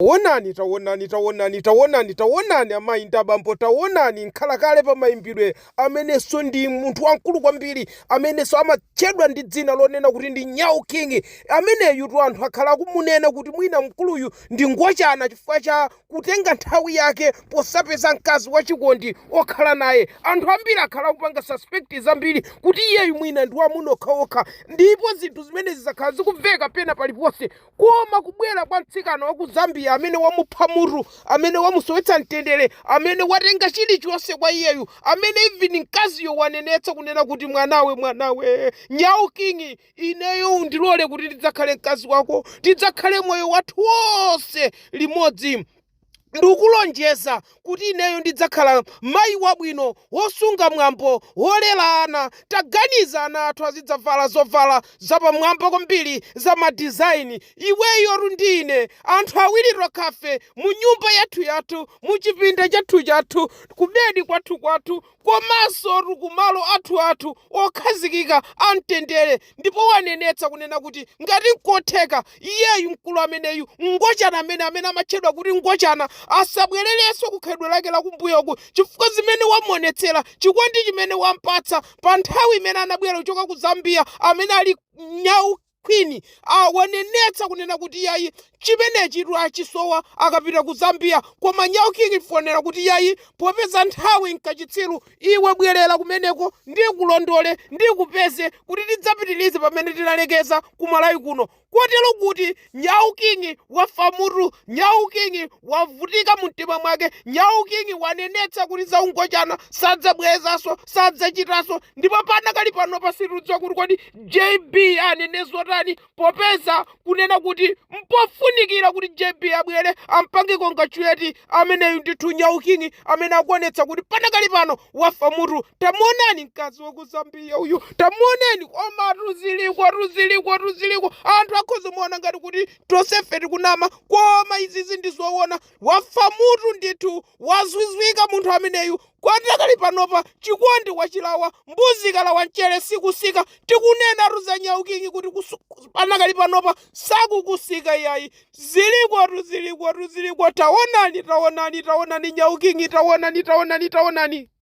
Tawonani, tawonani, tawonani, tawonani, tawonani, amayi ndi abambo, tawonani, mkhalakale pa mayimbidwe, amenenso ndi munthu wamkulu kwambiri, amenenso amatchedwa ndi dzina lonena kuti ndi Nyau King, ameneyutu anthu akhala akumunena kuti mwina mkuluyu ndi ngochana chifukwa cha kutenga nthawi yake posapeza mkazi wachikondi okhala naye. Anthu ambiri akhala akupanga suspect zambiri kuti iyeyu mwina ndi wa amuna okhaokha, ndipo zinthu zimenezi zakhala zikumveka pena paliponse. Koma kubwera kwa mtsikana wa ku Zambia amene wamupha mutu, amene wamusowetsa mtendere, amene watenga chilichonse kwa iyeyu, amene even mkaziyo wanenetsa kunena kuti mwanawe, mwanawe, Nyau King, ineyo undilole kuti ndidzakhale mkazi wako, tidzakhale moyo wathu wonse limodzi. Ndikulonjeza kuti ineyo ndidzakhala mayi wabwino, wosunga mwambo, wolera ana. Taganiza, ana athu azidzavala zovala zapamwamba kwambiri za ma design, iweyotu ndi ine, anthu awiri tokhafe, mu nyumba yathuyathu, mu chipinda chathuchathu, kubedi kwathukwathu, komansotu kumalo athuathu okhazikika amtendere ndipo wanenetsa kunena kuti ngati nkotheka iyeyu mkulu ameneyu Ngochana amene amene amatchedwa kuti Ngochana asabwererenso ku khalidwe lake lakumbuyoku chifukwa zimene wamuonetsera chikondi chimene wampatsa pa nthawi imene anabwera kuchoka ku Zambia amene ali Nyau Queen wanenetsa kunena kuti yayi chimenechitu achisowa akapita ku Zambia koma Nyau King wonena kuti yayi popeza nthawi nkachitsiru iwe bwelera kumeneko ndikulondole ndikupeze kuti tidzapitilize pamene tinalekeza ku Malawi kuno kotero kuti Nyau King wafa mutu Nyau King wavutika mumtima mwake Nyau King wanenetsa kuti za ungochana sadzabwelezaso sadzachitaso ndipo panakali panopa sitikudziwa kuti kodi JB anene zotani popeza kunena kuti mpofunikira kuti JB abwere ampange congratulate ameneyu ndithu Nyau King amene akuonetsa kuti panakali pano wafa mutu tamuonani mkazi wa ku Zambia uyu tamuonani koma zilikotu zilikotu ziliko anthu akhoza kuona ngati kuti tosefe tikunama koma izizi ndi zoona wafa mutu ndithu wazwizwika munthu ameneyu Panakali panopa chikondi wachilawa, mbuzi ikalawa mchere sikusika, tikunenatu za Nyau King kuti panakali panopa sakukusika iyayi, zilikotu zilikotu ziliko, taonani taonani taonani Nyau King taonani taonani taonani.